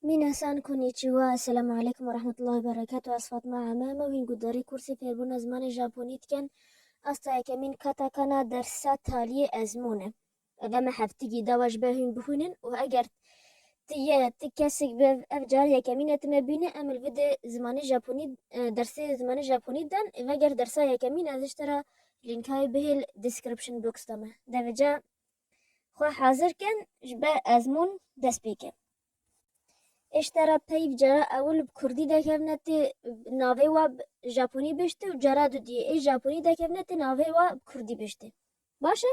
Minasan konnichiwa, Esselamu Aleykum ve Rahmetullahi ve Berekatuh Ez Fatma Ame me wîn guhdarî kursê fêrbûna zimanê Japonî dikin. Asta yekemîn katakana dersa taliyê ezmûn e. Ev dema heftigî dawa ji ber hûn bixwînin û eger tu yê tu kesik be ev car yekemîn e tu me bîne em li vide zimanê Japonî dersê zimanê Japonî dan ê veger dersa yekemîn ez ji te re lînkayê bihêl description box de me. Devê ca Xwe hazir kin ji ber ezmûn dest pê ke. Êşte re peyv cara ewil bi kurdî dekevne tê navê we bi japonî biştê û cara dudiyê ê japonî dekevne tê navê we bi kurdî biştê. Baş e?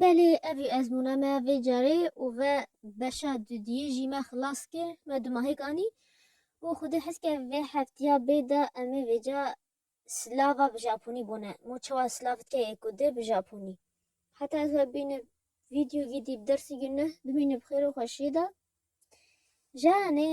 Belê evî ezmûna me vê carê û ve beşa dudiyê jî me xilas kir me dumahêk anî û xwedî hes kir vê heftiya bê de em ê vêca Slava bi Japonî bûne. Mo çawa Slav dike yê ku dê bi Japonî. Heta ez we bîne vîdyo gî dî bi dersî gî ne, bimîne bi xêr û xweşî de. Janê!